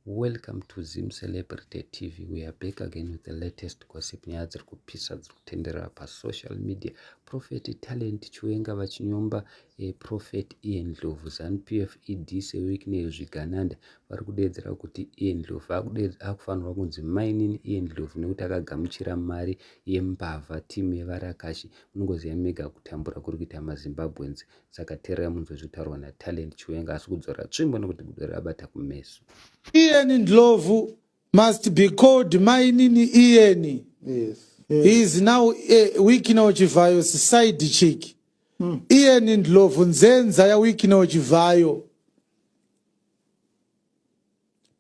Welcome to Zim Celebrity TV. We are back again with the latest gossip. Nyaya dziri kupisa dziri kutenderera pasocial media. Prophet Talent Chiwenga vachinyomba eh, Prophet Ian Ndlovu. ZanuPF ED seWicknell Zvigananda vari kudeedzera kuti Ian Ndlovu akufanirwa kunzi mainini Ian Ndlovu nekuti akagamuchira mari yembavha timu yevarakashi. Munongoziva mega kutambura kuri kuita maZimbabweans. saka tererai munzwe zvitaurwa natalent chiwenga asi kudzora tsvimbo nekuti gudo rabata kumeso iyeni ndlovu must be called mainini iyeni yes. he is now a wikino chivhayo side chick mm. iyeni ndlovu nzenza yawikino chivhayo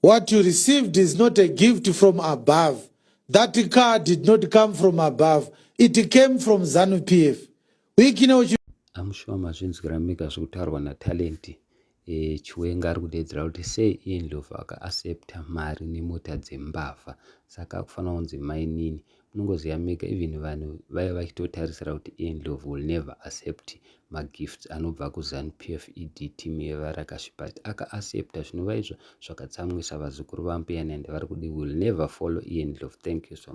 What you received is not a gift from above. That car did not come from above. It came from ZANU PF. I'm sure mazvinzwira mega zvekutaurwa naTalent e, Chiwenga ari kudeedzera kuti sei iye Ndlovu akaasepta mari nemota dzembavha saka akufanira kunzi mainini unongoziva mega even vanhu vaiva vachitotarisira kuti endlov will never accept magifts anobva kuzanu p f e d team yevarakashi but akaaccepta zvinova izvo zvakatsamwisa vazukuru vambuya nende vari kudi will never follow endlov thank you so much